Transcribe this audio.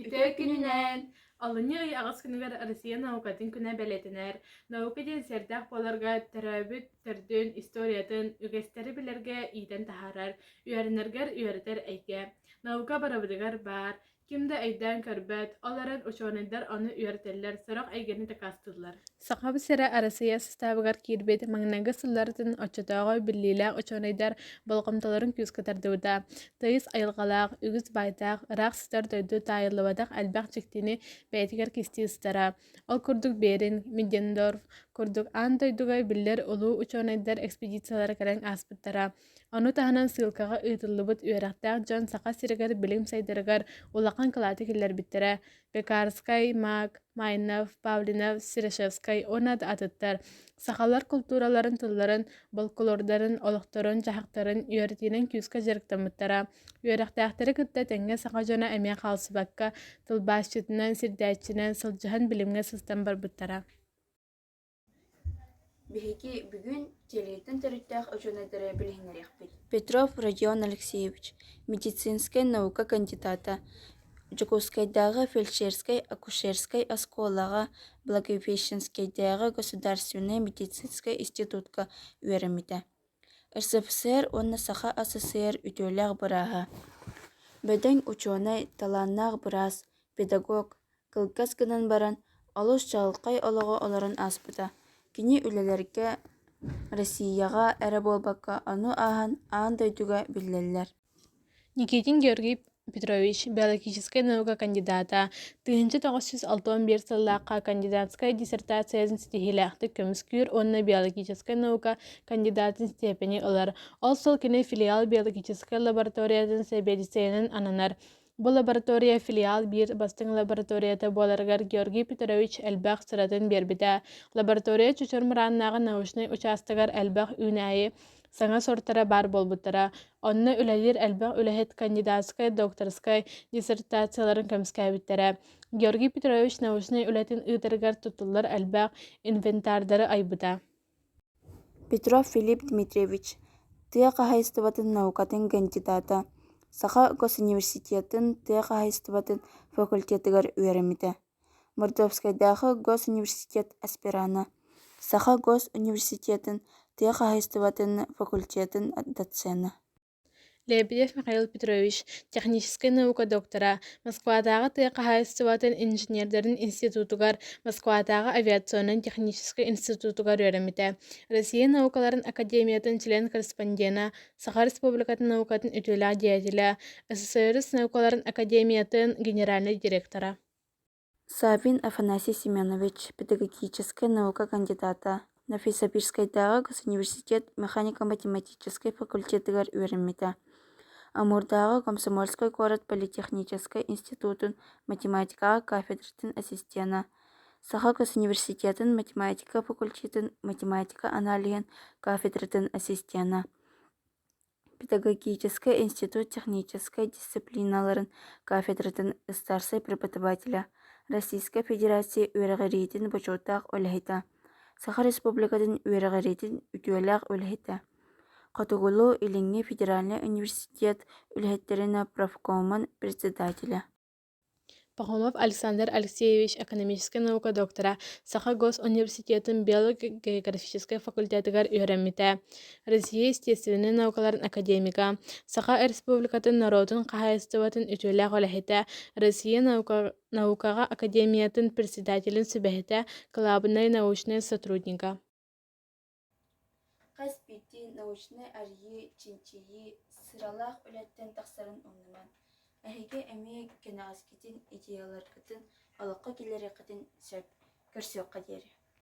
Ити күнүнэн Алынньы аҕыс күнүгэр Россия наукатын күнэ бэлиэтэнэр. Наука диэн сэрдээх буоларга төрөөбүт төрдүн историятын, үгэстэри билэргэ иитэн таһаарар, үөрэнэргэр үөрэтэр эйгэ. Наука барыбытыгар баар. Ким да өйдөөн көрбөт, ол эрэн учуонайдар ону үөрэтэллэр, сорох эйгэни дакаастыыллар. Сахабыт сирэ Арассыыйа састаабыгар киирбит маҥнайгы сылларытын оччотооҕу биллиилээх учуонайдар болҕомтолорун күүскэ тардыбыта. Тыйыс айылҕалаах, үгүс байтаах, ыраах сытар дойду таайыллыбатах элбэх дьиктини бэйэтигэр кистии сытара. Ол курдук Берин, Миддендорф курдук аан дойдуга биллэр улуу учуонайдар экспедициялара кэлэн ааспыттара. Ону таһынан ссылкаҕа ыытыллыбыт үөрэхтээх дьон Саха сиригэр билим сайдарыгар улахан кылааты киллэрбиттэрэ. Пекарскай, Мак, Майнов, Павлинов, Серышевскай уонна да атыттар сахалар култуураларын тылларын, болколордарын, олохторун-дьаһахтарын үөрэтиинэн күүскэ дьарыктаммыттара. Үөрэхтээхтэри кытта тэҥҥэ саха дьоно эмиэ хаалсыбакка, тылбаасчытынан, сирдээччинэн, сылдьыһан билимҥэ сыстан барбыттара. Биһиги бүгүн Кэриэтин төрүттээх учуонайдара билиһиннэриэхпит Петров Родион Алексеевич, медицинскэй наука кандидата, Дьокуускайдааҕы фельдшерскэй акушерскай оскуолаҕа, Благовещенскайдааҕы государственнай медицинскэй институтка үөрэммитэ СССР уонна Саха СССР үтүөлээх бырааһа, бөдөҥ учуонай, талааннаах быраас, педагог, кылгас гынан баран олус чаҕылхай олоҕу олорон ааспыта. Кини үлэлэргэ Россияҕа эрэ буолбакка, ону ааһан аан дойдуга биллэллэр никитин георгий петрович биологическай наука кандидата тыһыынча тоҕус сүүс алта уон биир сыллаахха кандидатскай диссертациятын ситиһиилээхтик көмүскүүр уонна биологическай наука кандидатын степени ылар ол сыл кини филиал биологическай лабораториятын сэбиэдиссэйинэн ананар Бу лаборатория филиал биир бастыҥ лабораторията буоларыгар Георгий Петрович элбэх сыратын биэрбитэ. Лаборатория чочор мырааннааҕы научнай учаастагар элбэх үүнээйи саҥа сортара баар буолбуттара. Онно үлэлиир элбэх үлэһит кандидатскай, докторскай диссертацияларын көмүскээбиттэрэ. Георгий Петрович научнай үлэтин ыытарыгар туттуллар элбэх инвентардары айбыта. петров филипп дмитриевич тыа хаһайыстыбатын наукатын кандидата саха госуниверситетын тыа хаһайыстыбатын факультетыгар үөрэммитэ мордовскайдааҕы госуниверситет аспиранта саха гос университетин тыа хаһайыстыбатын факультетын доценна Лебедев Михаил Петрович, техническэй наука доктора, Москватааҕы тыа хаһаайыстыбатын инженердэрин институтугар, Москватааҕы авиационнай техническэй институтугар үөрэммитэ, Россия наукаларын академиятын член-корреспондена, Саха Республикатын наукатын үтүөлээх деятеля, СССР наукаларын академиятын генеральнай директора. саввин афанасий семенович педагогическай наука кандидата новосибирскайдааҕы госуниверситет механико-математическай факультетыгар үөрэммитэ амурдааҕы комсомольскай куорат политехническай институтун математикаҕа кафедратын ассистена саха госуниверситетын математика факультетын математика аналиһын кафедратын ассистена Педагогическай институт техническэй дисциплиналарын кафедратын ыстаарсай преподавателэ, Российскай Федерация үөрэҕириитин бочуоттаах үлэһитэ, Саха Республикатын үөрэҕириитин үтүөлээх үлэһитэ, Хотугулуу-Илиҥҥи федеральнай университет үлэһиттэринэ профкомун председателэ Пахомов Александр Алексеевич экономическай наука доктора, Саха госуниверситетын биолого-географическай факультетыгар үөрэммитэ, Россия естественнай наукаларын академига, Саха Республикатын норуотун хаһаайыстыбатын үтүөлээх үлэһитэ, Россия наукаҕа академиятын председателин сүбэһитэ, кылаабынай научнай сотруднига Хас биирдии научнай арыйыы, чинчийии сыралаах үлэттэн тахсарын умнуман, эһиги эмиэ кэнэҕэскитин, идеяларгытын олоххо киллэриэххитин сөп көрсүөххэ диэри